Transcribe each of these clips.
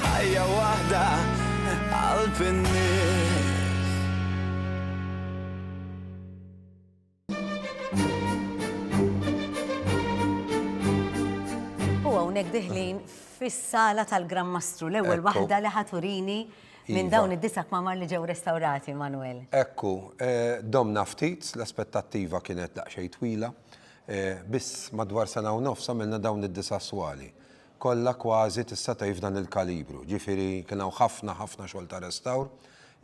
Ħajja waħda qalb in-nies. U hawnhekk diħlin fis-sala tal-Gran Mastru, l-ewwel waħda li ħaturini minn iva. dawn id-disa' kmamar li ġew restawrati, Manwel. Ekku, eh, domna ftit, l-aspettattiva kienet daqsxejn twila, eh, biss madwar sena u nofs għamilna dawn id-disa' swali. kollha kważi tista' tgħid f'dan il-kalibru. Ġifieri kien hawn ħafna ħafna xogħol ta' restawr.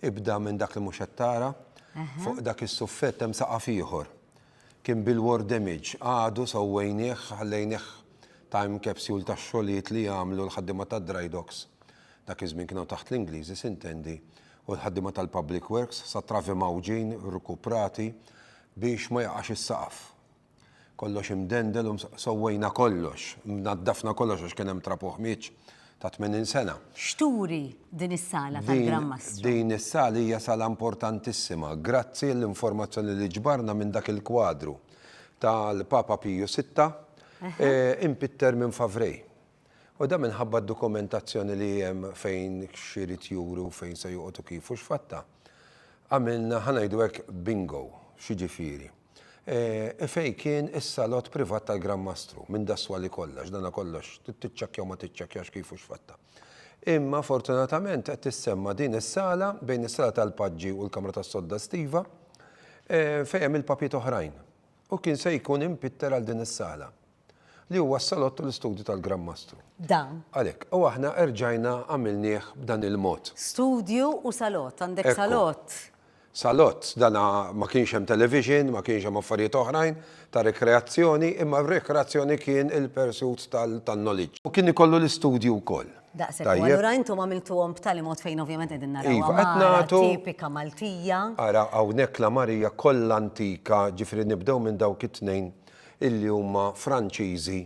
Ibda minn dak li mhux qed tara, fuq dak is-suffett hemm saqaf ieħor. Kien bil-war damage, għadu sewwejnieh, ħallejnieh time capsule tax-xogħlijiet li għamlu l-ħaddiema tad-dry docks, dak iż-żmien kienu taħt l-Ingliżi s'intendi, u l-ħaddiema tal-public works, sat-travi mgħawġin, rkuprati, biex ma jaqax is-saqaf. Kollox imdendel u sowwejna kollox, naddafna kollox għax kien hemm trab u ħmieġ ta' 80 sena. X'turi din is-sala tal-Gran Mastru? Din is-sala hija sala importantissima. Grazzi għall-informazzjoni li ġbarna minn dak il-kwadru tal-Papa Piju Sitta, impitter minn Favray. U dan minħabba d-dokumentazzjoni li hemm fejn x'irid juri u fejn se joqgħod u kif u x'fatta. Għamilna, ħa ngħidu hekk, bingo, x'jiġifieri. E fejn kien is-salott privat tal-Gran Mastru, minn Daswa li kollha, għax dana kollox, trid tiċċekkja u ma tiċċekkjax kif u x'fattha. Imma fortunatament qed tissemma' din is-sala, bejn is-sala tal-paġġi u l-kamra tas-sodda estiva, fejn hemm il-papjiet oħrajn. U kien se jkun impitter għal din is-sala. li huwa s-salott tal-istudju tal-Gran Mastru. Dan. Għalhekk, u aħna erġajna għamilnieh b'dan il-mod. Studju u salott, għandek salott. Salott, dan ma kienx hemm television, ma kienx hemm affarijiet oħrajn ta' rikreazzjoni, imma r-rikreazzjoni kien il-pursuit tal-knowledge. U kien ikollu l-istudju wkoll. Daqshekk, u allura intom għamiltuhom b'tali mod fejn ovvjament qegħdin naraw. Iva, qed nagħtu. Tipika Maltija. Ara, hawnhekk l-għamarija kollha antika, ġifieri nibdew minn dawk it-tnejn illi huma Franċiżi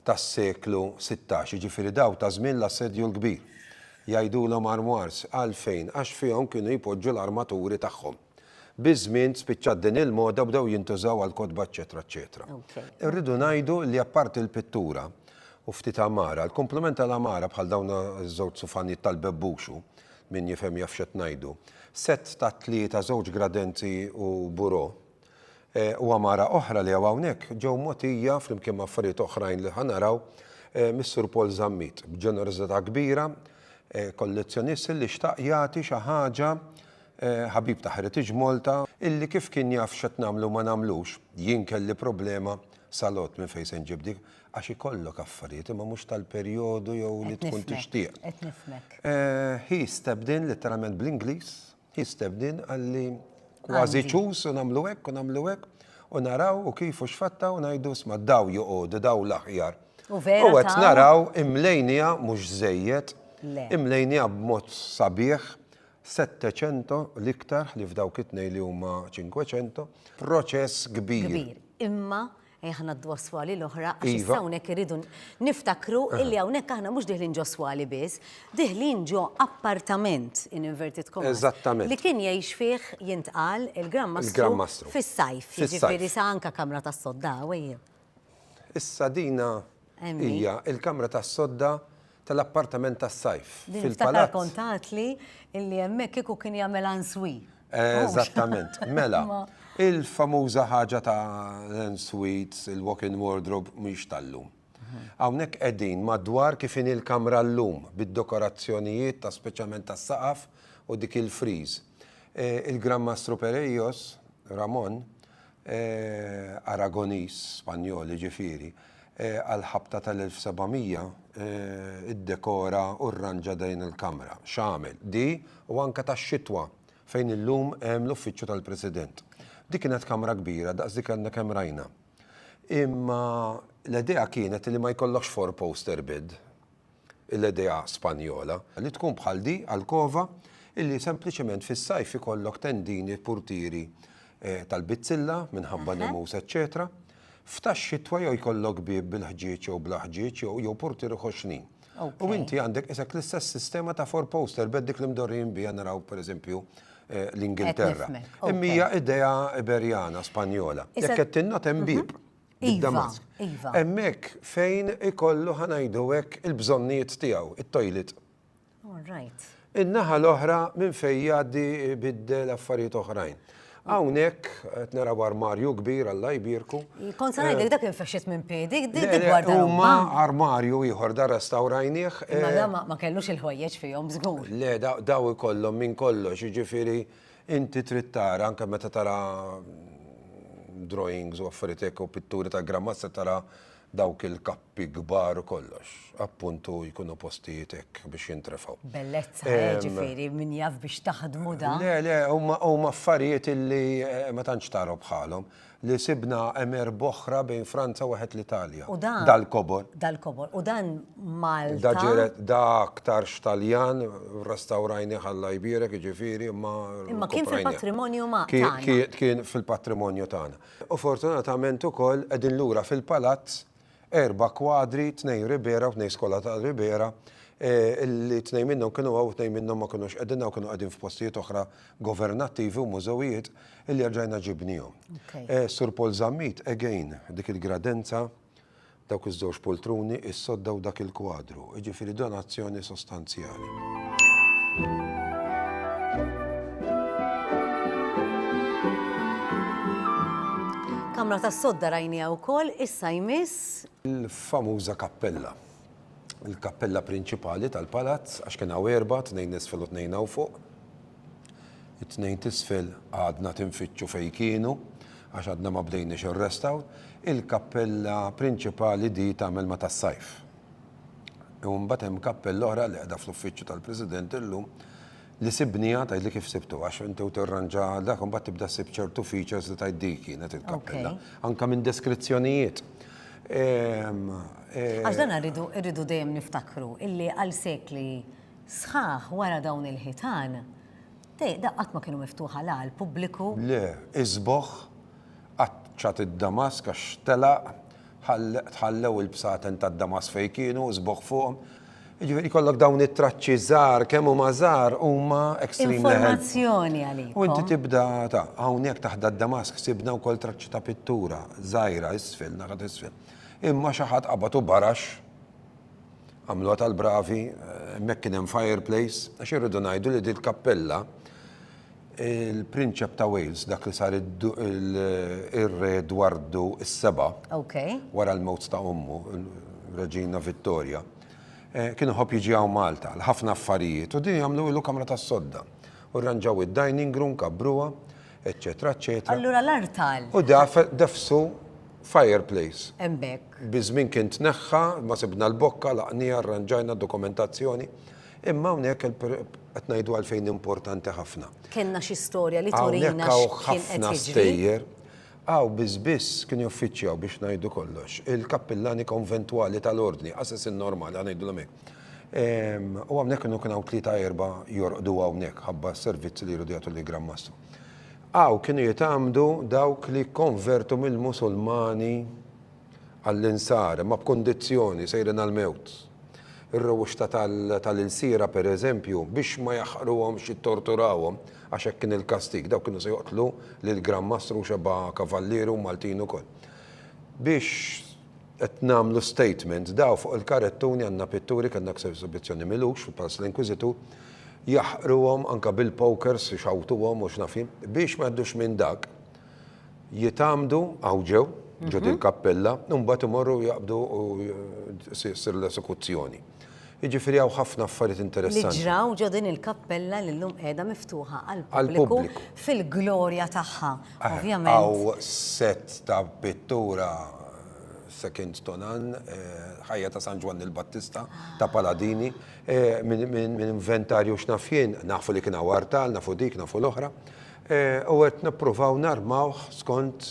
tas-seklu sittax, jiġifieri dawk ta' żmien l-Assedju l-Kbir. Jgħidulhom armoires, għalfejn? Għax fihom kienu jpoġġu l-armaturi tagħhom. Biż-żmien spiċċat din il-moda u bdew jintużaw għall-kotba eċċetera eċċetera. Irridu ngħidu li apparti l-pittura u ftit għamara, l-kumplament tal-għamara bħal dawn iż-żewġ sufanijiet tal-Bebbuxu, min jifhem jaf x'qed ngħidu, sett ta' tlieta, żewġ gradenzi u bureau, u għamara oħra li hawn hawnhekk ġew mogħtija, flimkien ma' affarijiet oħrajn li ħa naraw, mis-Sur Paul Zammit b'ġenerożità kbira, kollezzjonist illi xtaq jagħti xi ħaġa, ħabib ta' Heritage Malta, illi kif kien jaf x'qed nagħmlu u ma nagħmlux, jien kelli problema sal-għodd minn fejn se nġib dik, għax ikollok affarijiet imma mhux tal-perjodu jew li tkun tixtieq. Qed nifhmek, qed nifhmek. He stepped in, litteralment bl-Ingliż, Hi Stebnin qalli kważi ċus u nagħmlu hekk u nagħmlu hekk u naraw u kif u x'fatta u ngħidu isma' daw joqogħdu daw l-aħjar. U qed naraw imlejniha mhux żejjed, imlejniha b'mod sabiħ, Settecento l-iktar ħlief dawk it-tnejn li huma Cinquecento, proċess kbir. Kbir, imma Ejja ħa ngħaddu għas-swali l-oħra għax issa hawnhekk irridu niftakru illi hawnhekk aħna mhux diħlin ġo swali biss, diħlin ġo appartament in inverted commas. Eżattament. Li kien jgħix fih jintqal il-Gran Mastru fis-sajf, jiġifieri sa anke kamra tas-sodda hawn. Issa dina Hija l-kamra tas-sodda tal-appartament tas-sajf fil-palazz. Niftakar kont għadtli illi hemmhekk kieku kien jagħmel answui. Eżattament. Mela, il-famuża ħaġa ta' l-ensuites, il-walk-in wardrobe mhix tal-lum. Hawnhekk qegħdin madwar kif inhi l-kamra llum bid-dekorazzjonijiet ta' speċjalment tas-saqaf u dik il-friż. Il-Gran Mastru Pereios, Ramon, Aragonis, Spanjol jiġifieri, għall-ħabta tal-1700 iddekora u rranġa dejn il-Kamra, x'għamel, di u anke tax-Xitwa, fejn illum hemm l-Uffiċċju tal-President. Di kienet kamra kbira daqs dik li għadna kemm rajna. Imma l-idea kienet li ma jkollokx four-poster bed. l-idea Spanjola, li tkun bħal di alkova illi sempliċement fis-sajf ikollok tendini, purtieri tal-bizzilla minħabba nemus eċċetera, f'tax-xitwa jew jkollok bieb bil-ħġieġ jew bla ħġieġ jew jew purtieri ħoxnin. U inti għandek isek l-istess sistema ta' four poster bed dik li mdorrijin biha naraw pereżempju l-Ingilterra. Imma hija idea Iberjana, Spanjola. Jekk qed tinnota hemm bieb. Id-Damask. Iva, iva. Hemmhekk fejn ikollu ħanajdu hekk il-bżonnijiet tiegħu, it-tojlit. All right. In-naħa l-oħra minn fejn jgħaddi biddel affarijiet oħrajn. Hawnhekk qed naraw armarju kbir għal jbierku. Kont se ngħidlek eh, dak infexxit minn piedi, dik gwarda. Huma armarju ieħor da restawrajnieh. Imma eh, ma kellux il-ħwejjeġ fihom żgur. Le daw ikollhom minn kollox, jiġifieri Inti trid tara anke meta tara drawings u affarijiet hekk u pitturi ta' Gran Mazza tara dawk il-kappi kbar u kollox. Appuntu jkunu postijiet hekk biex jintrefgħu. Bellezza, jiġifieri min jaf biex taħdmu dan. Le, le, huma affarijiet illi ma tantx tara bħalhom. li sibna hemm erb' oħra bejn Franza u wieħed l-Italja. Dal-kobor. Dal-kobor. U dan Malta. Da ġiret da aktarx Taljan, restawrajnih Alla jbierek, jiġifieri, imma. Imma kien fil-patrimonju ma' tagħna. Kien fil-patrimonju tagħna. U fortunatament ukoll qegħdin lura fil-palazz Erba' kwadri, tnejn Ribera u tnejn Skola ta' Ribera, li tnejn minnhom kienu hawn u tnejn minnhom ma kinux qegħdin hawn, kienu qegħdin f'postijiet oħra governattivi u mużewijiet, illi erġajna ġibniehom. Sur Paul Zammit, again, dik il-gradenza, dawk iż-żewġ poltruni, is-sodda u dak il-kwadru. jiġifieri donazzjoni sostanzjali. Kamra tas-sodda rajnieha wkoll, issa jmiss. Il-famuża kappella. Il-kappella prinċipali tal-palazz għax kien hawn erbgħa, tnejn isfel u tnejn hawn fuq. It-tnejn t'isfel għadna tinfittxu fejn kienu għax għadna ma bdejniex ir-restawr. Il-kappella prinċipali di tagħmel ma' tas-sajf. U mbagħad hemm kappella oħra li qiegħda fl-uffiċċju tal-President illum li sibniha tgħidli kif sibtu għax inti u tirranġa dak u mbagħad tibda ssib ċertu features li tgħid dik kienet il-kappella. Anke minn deskrizzjonijiet. Għax dan irridu dejjem niftakru illi għal sekli sħaħ wara dawn il-ħitan Dehq, dehq qatt ma kienu miftuħa la għall-pubbliku. Le, isbogħ, qaċċat id-damask għax telaq, tħallew il-bsaten tad-damask fejn kienu, isbogħ fuqhom. Jiġifieri jkollok dawn it-traċċi żgħar, kemm huma żgħar, huma extremely helpful. Informazzjoni għalikom. U inti tibda ta', hawnhekk taħt dad-damask sibna wkoll traċċi ta' pittura żgħira isfel, naħa t'isfel. Imma xi ħadd qabad u barax. Għamluha tal-bravi, hemmhekk kien hemm fireplace, għax irridu ngħidu li din kappella il-Prinċep ta' Wales dak li sar ir-Re Edwardu s-Seba' wara l-mewt ta' ommu, Reġina Vittoria, eh, kien iħobb jiġi hawn Malta l-ħafna affarijiet u din jagħmlu ilu kamra tas-sodda. U rranġaw id-dining room, kabbruha, eccetera, eccetera. Allura l-art tal. U defsu fireplace. Embek. Bizmin kien tneħħa, ma sibna l-bokka, laqnija, arranġajna dokumentazzjoni. Imma hawnhekk qed ngħidu għalfejn importanti ħafna. Kenna xi storja li turina ħafna stejjer. Aw bizbis kien joffiċjaw biex ngħidu kollox. Il-kappillani konventwali tal-ordni, assassin normali, għanajdu l-mek. U hawnhekk kienu kien hawn tlieta erba' jorqdu hawnhekk ħabba s-servizzi li jridu jagħtu lill-Gran Mastru. Hawn kienu jitgħammdu dawk li jikkonvertu mill-Musulmani għall-Insara, imma b'kundizzjoni, sejrin għall-mewt. Ir-rewwixta tal-ilsiera, pereżempju, biex ma jaħqruhomx jittorturawhom, għax hekk kien il-kastig, dawk kienu se joqtlu lill-Gran Mastru xebgħa Kavallieri u Maltin ukoll. Biex Qed nagħmlu statement, daw fuq il-karettuni għandna pitturi, kellna aktar esibizzjoni Milux fil-Palazz tal-Inquisitu, jaħqruhom anke bil-pokers ixawtuhom u x'naf jien. Biex ma jgħaddux minn dak, jitgħammdu hawn ġew, ġo din il-kappella, u mbagħad imorru jaqbdu u ssir l-esekuzzjoni. Jiġifieri hawn ħafna affarijiet interessanti. Li ġraw ġo din il-kappella li llum qiegħda miftuħa għall-pubbliku fil-glorja tagħha. Ovvjament. Hawn sett ta' pittura second to none, ħajja ta' San Ġwann il-Battista ta' Paladini, minn inventarju x'naf jien, nafu li kien hawn artal, nafu dik, nafu l-oħra, u qed nippruvaw narmawh skont